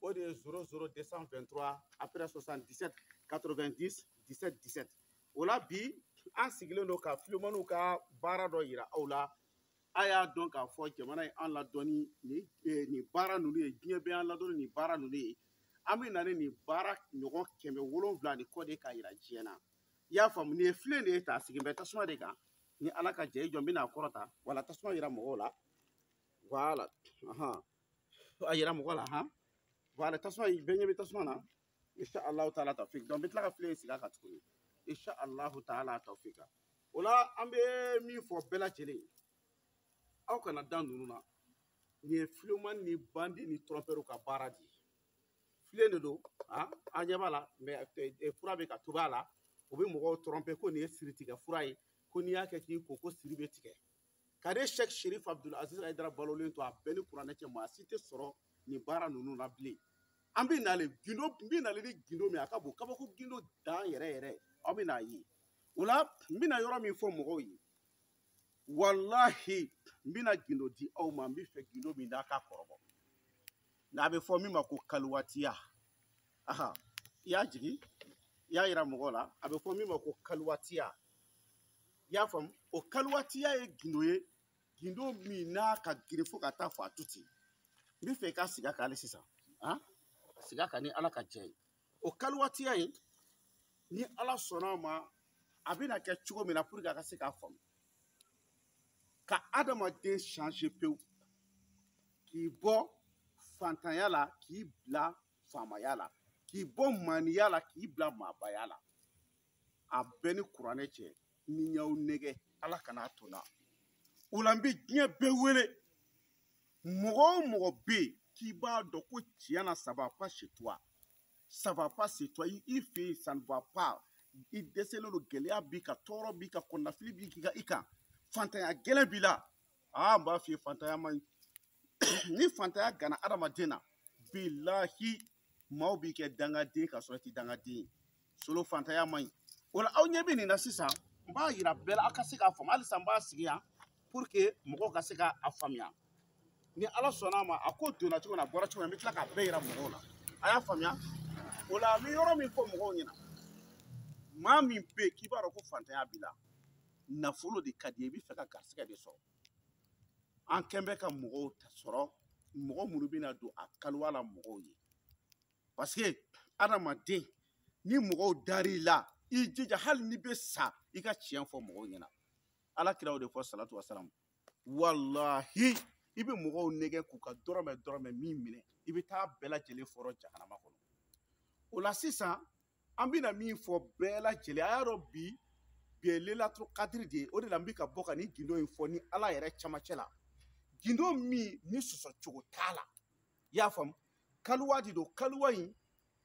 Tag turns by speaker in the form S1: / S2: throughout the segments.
S1: o de ye 00 223 après 77 90 17 17 o la bi an sigilen don ka filemaniw ka baara dɔ yira aw la a y'a dɔn k'a fɔ jamana ye an ladɔn ni nin eh, nin baara ninnu ye diɲɛ bɛ an ladɔn ni nin baara ninnu ye an bɛ na ni nin baara ɲɔgɔn kɛmɛ wolonwula ni kɔ de k'a yira diɲɛ na i y'a faamu nin ye filen de ye ta a sigilen bɛ tasuma de kan ni ala ka jɛ i jɔ n bɛna a kɔrɔta voilà tasuma yira mɔgɔw la voilà to a yira mɔgɔ la han voilà tasuma bɛɛ ɲɛ bɛ tasuma na insha allahu taala tawfik donc n bɛ tila ka filen sigi a kan tuguni insha allahu taala tawfik o la an bɛ min fɔ bɛɛ lajɛlen ye aw kana dan ninnu na nin ye filemani ni bandi ni trɔmpɛriw ka baara de ye filen de don a ɲɛ b'a la mais fura bɛ ka tobi a la u bɛ mɔgɔw trɔmpe ko nin ye siritigɛ fura ye ko n'i y'a kɛ k'i ko ko siri bɛ tigɛ ka ne shɛk sherif abdul aziz ayidara balolen to a bɛ n ni kuranɛ cɛ maa si tɛ sɔrɔ nin baara ninnu na bilen an bɛ nale gindo n bɛ nale ni gindo min a ka bon kabako gindo dan yɛrɛ yɛrɛ aw bɛn'a ye o la n bɛna yɔrɔ min fɔ mɔgɔw ye walahi n bɛna gindo di aw ma n bɛ fɛ gindo min n'a ka kɔrɔbɔ n'a bɛ fɔ min ma ko kaliwatiya aha i y'a jigin i y'a yira mɔgɔw la a bɛ fɔ min ma ko kaliwatiya i y'a faamu o kaliwatiya ye gindo ye gindo min n'a ka girin fo ka taa fɔ a to ten n bɛ fɛ i ka siga k'ale sisan han siga ka ni ala ka jɛ ye o kaliwatiya in ni ala sɔnna a ma a bɛna kɛ cogo min na pour que a ka se k'a faamu ka adamaden change pewu k'i bɔ fantanya la k'i bila faamaya la k'i bɔ maaniya la k'i bila maabaya la a bɛ n ni kuranɛ cɛ ni n y'aw nɛgɛn ala kana a to n na o la n bɛ diɲɛ bɛɛ wele mɔgɔ o mɔgɔ bɛ yen k'i b'a dɔn ko tiɲɛ na ça va pas chez toi ça va pas chez toi i fɛ yen ça ne va pas i dɛsɛlen don gɛlɛya b'i kan tɔɔrɔ b'i kan kɔnɔnafili b'i kan i kan fantanya gɛlɛn b'i la aa n b'a f'i ye fantanya man ɲi ni fantanya ganna adamaden na bilahi maaw b'i kɛ dangaden ka sɔrɔ i tɛ dangaden ye solo fantanya man ɲi o la aw ɲɛ bɛ nin na sisan n b'a yira bɛɛ la aw ka se k'a faamu halisa n b'a sigi yan pour que mɔgɔw ka se k'a faamuya ni ala sɔnna a ma a ko donna cogo min na a bɔra cogo min na n bɛ tila k'a bɛɛ yira mɔgɔw la a y'a faamuya o la n bɛ yɔrɔ min fɔ mɔgɔw ɲɛna maa min bɛ yen k'i b'a dɔn ko fantanya b'i la nafolo de ka di i ye i b'a fɛ ka garisigɛ de sɔrɔ an kɛn bɛ ka mɔgɔw sɔrɔ mɔgɔ minnu bɛna don a kaliwa la mɔgɔw ye parce que adamaden ni mɔgɔw dar'i la i jija hali n'i bɛ sa i ka tiɲɛ fɔ mɔgɔw ɲɛna ala kira o de fɔ salatu wasalamu walahi i bɛ mɔgɔw nɛgɛn k'u ka dɔrɔmɛ dɔrɔmɛ min minɛ i bɛ t'a bɛɛ lajɛlen fɔrɔ jahanama kɔnɔ o la sisan an bɛna min fɔ bɛɛ lajɛlen a y'a dɔn bi bi ye lelaturu kadiri de ye o de la n bɛ ka bɔ ka nin gindo in fɔ n ni ala yɛrɛ camancɛ la gindo min ni sɔsɔ cogo t'a la i y'a faamu kaliwa de don kaliwa in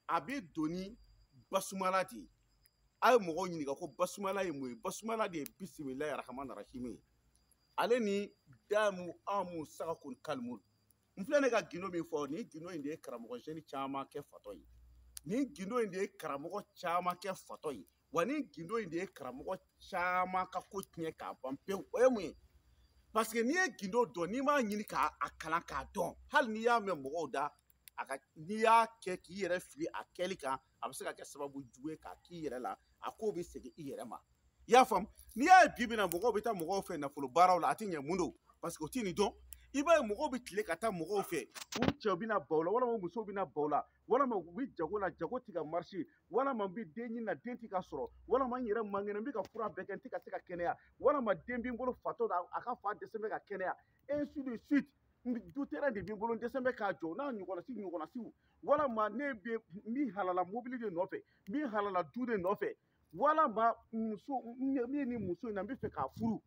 S1: a bɛ don ni basumala de ye a ye mɔgɔw ɲininka ko basumala ye mun ye basumala de ye bisimilayi arahamani arahimi ye ale ni damu amu sagakun kalimu n filɛ ne ka gindo min fɔ nin gindo in de ye karamɔgɔ jeune caman kɛ fatɔ ye nin gindo in de ye karamɔgɔ caman kɛ fatɔ ye wa nin gindo in de ye karamɔgɔ caman ka ko tiɲɛ k'a ban pewu o ye mun ye parce que n'i ye gindo dɔn n'i m'a ɲini k'a kalan k'a dɔn hali n'i y'a mɛn mɔgɔw da a n'i y'a kɛ k'i yɛrɛ fili a kɛli kan a bɛ se ka kɛ sababu jugu ye k'a k'i yɛrɛ la a ko bɛ segin i yɛrɛ ma i y'a faamu n'i y'a ye bi bi na mɔgɔw bɛ taa mɔgɔw fɛ nafolo baaraw la a tɛ ɲɛ mun don parce que u tɛ nin dɔn i b'a ye mɔgɔw bɛ tile ka taa mɔgɔw fɛ u cɛw bana b'u la walima musow bana b'u la walima u bɛ jago la jago tɛ ka marcher walima n bɛ den ɲini na den tɛ ka sɔrɔ walima n yɛrɛ man kɛnɛ n bɛ ka fura bɛɛ kɛ n tɛ ka se ka kɛnɛya walima den bɛ n bolo fatɔ la a ka fa dɛsɛn bɛ ka kɛnɛya ainsi de suite du terrain de bɛ n bolo n dɛsɛn bɛ k'a jɔ n'a ɲɔgɔnasi ɲɔgɔnasiw walama ne bɛ min halala mobili de nɔfɛ min halala du de nɔfɛ walama muso min ni muso in na n bɛ fɛ k'a furu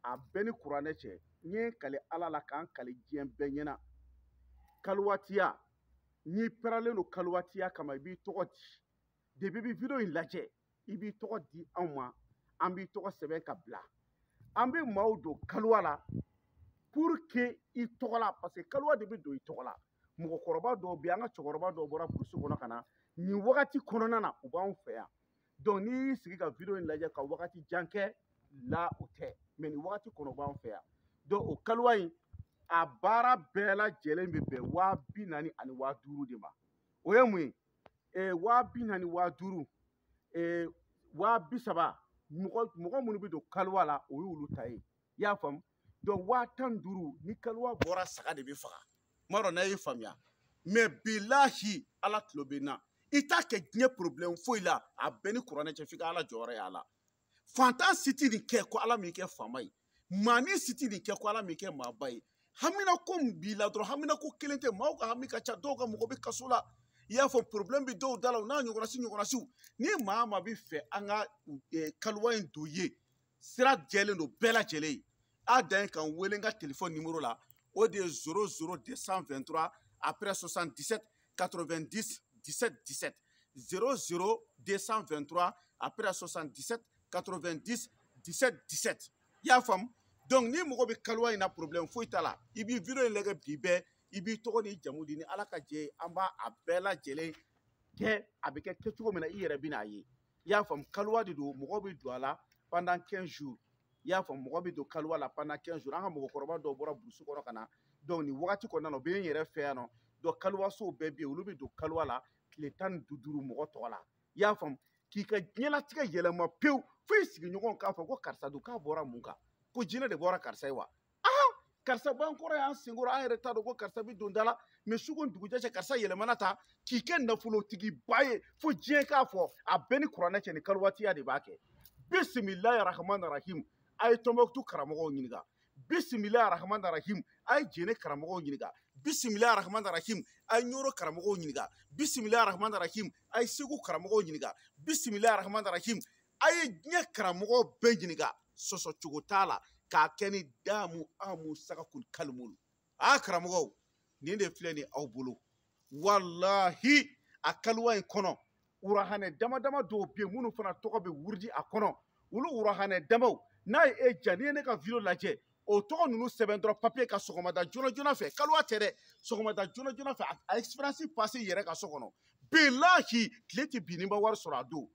S1: a bɛ n ni kuranɛ cɛ n ye n kali ala la ka n kali diɲɛ bɛɛ ɲɛna kaliwatiya n'i parelen don kaliwatiya kama i b'i tɔgɔ di depuis i bɛ video in lajɛ i b'i tɔgɔ di anw ma an b'i tɔgɔ sɛbɛn ka bila an bɛ maaw don kaliwa la pour que i tɔgɔ la parce que kaliwa de bɛ don i tɔgɔ la mɔgɔkɔrɔba dɔw bɛ an ka cɛkɔrɔba dɔw bɔra burusi kɔnɔ ka na nin wagati kɔnɔna na u b'anw fɛ yan donc n'i y'i sigi ka video in lajɛ ka wagati jan k'a la o tɛ mɛɛn nin wagati kɔnɔ u b'anw fɛ yan donc o kaliwa in a baara bɛɛ lajɛlen bɛ bɛn waa bi naani ani waa duuru de ma o ye mun ye eh, waa bi naani waa duuru eh, waa bi saba mɔgɔ mɔgɔ minnu bɛ don kaliwa la o y'olu ta ye i y'a faamu donc waa tan duuru ni kaliwa bɔra saga de bɛ faga n m'a dɔn n'a y'a faamuya mais bilahi ala tulo bɛ n na i t'a kɛ diɲɛ problème foyi la a bɛ n ni kuranɛ cɛ f'i ka ala jɔyɔrɔ y'a la fantan si tɛ nin kɛ ko ala m'i kɛ faama ye maa ni si tɛ nin kɛ ko ala m'i kɛ maaba ye haminanko min b'i la dɔrɔn haminanko kelen tɛ maaw ka hami ka ca dɔw ka mɔgɔ bɛ kaso la i y'a fɔ problème bɛ dɔw da la u n'a ɲɔgɔnasi ɲɔgɔnasiw ni maa min b'a fɛ an ka eh, kaliwa in don ye sira jɛlen don bɛɛ lajɛlen ye a dan ye ka n wele n ka telefɔni nimoro la o de ye 00 223 après 77 90 17 17 00 223 après 77 90 17 17 i y'a faamu donc ni mɔgɔ bɛ kaliwa in na problème foyi t'a la i b'i video in lajɛ bi bɛɛ i b'i tɔgɔ n'i jamu di ni ala ka jɛ ye an b'a a bɛɛ lajɛlen kɛ a bɛ kɛ kɛcogo min na i yɛrɛ bɛn'a ye i y'a faamu kaliwa de don mɔgɔ bɛ don a la pendant 15 jours i y'a fɔ mɔgɔ bɛ don kaliwa la pendant 15 jours an ka mɔgɔkɔrɔba dɔw bɔra burusi kɔnɔ ka na donc nin wagati kɔnɔna na o bɛ n yɛrɛ fɛ yan nɔ donc kaliwasow bɛɛ bɛ yen olu bɛ don kaliwa la tile tan ni duuru mɔgɔ tɔgɔ la i y'a faamu k'i ka diɲɛlatigɛ yɛlɛma pewu fo i sigiɲɔgɔnw k'a fɔ ko karisa dun k'a bɔra mun kan ko jinɛ de bɔra karisa ye wa aa karisa b'an kɔrɔ yan an senkɔrɔ an yɛrɛ t'a dɔn ko karisa bɛ don da la mais su ko dugujɛ cɛ karisa yɛlɛmana taa k'i kɛ nafolotigiba ye fo diɲɛ k'a fɔ a bɛ n ni kuranɛ cɛ nin kaliwatiya de b'a kɛ bisimilayi rahman rahim a ye tɔnbɔkutu karamɔgɔw ɲininka bisimilayi rahman rahim a ye jɛnɛ karamɔgɔw ɲininka bisimilayi rahman rahim a ye ɲɔrɔ karamɔgɔw ɲininka bisimilayi rahman rahim a ye segu karamɔgɔw ɲininka bisimilayi rahman rahim a ye diɲɛ karamɔgɔw bɛɛ ɲininka sɔsɔ cogo t'a la k'a kɛ ni damu amu sagakul kalimul a karamɔgɔw nin de filɛ nin aw bolo walahi a kaliwa in kɔnɔ wurahanɛ dama dama dɔw bɛ yen minnu fana tɔgɔ bɛ wurudi a kɔnɔ olu wurahanɛ damaw n'a ye e diya n'i ye ne ka video lajɛ o tɔgɔ ninnu sɛbɛn dɔrɔn papiye kan sɔgɔmada joona joona fɛ kaliwa tɛ dɛ sɔgɔmada joona joona fɛ a expérience passe i yɛrɛ ka so kɔnɔ bilahi tile tɛ bin n'i ma wari sɔrɔ a don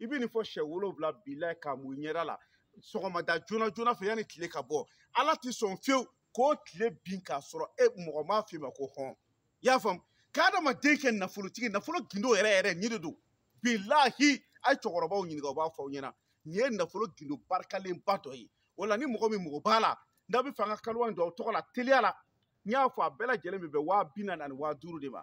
S1: i bɛ nin fɔ siɲɛ wolonwula bi la k'a mun i ɲɛda la sɔgɔmada joona joona fɛ yanni tile ka bɔ ala tɛ sɔn fiyewu k'o tile bin k'a sɔrɔ e mɔgɔ m'a f'i ma ko hɔn i y'a faamu k'adamaden kɛ nafolotigi nafolo gindo yɛrɛ yɛrɛ nin de don bilahi a ye cɛkɔrɔbaw ɲininka u b'a fɔ aw ɲɛna nin ye nafolo gindo barikalenba dɔ ye o la ni mɔgɔ min mako b'a la n'a b'a fɛ an ka kaliwa in don aw tɔgɔ la teliya la n y'a fɔ a bɛɛ lajɛlen bɛ bɛn waa bi naani ani waa duuru de ma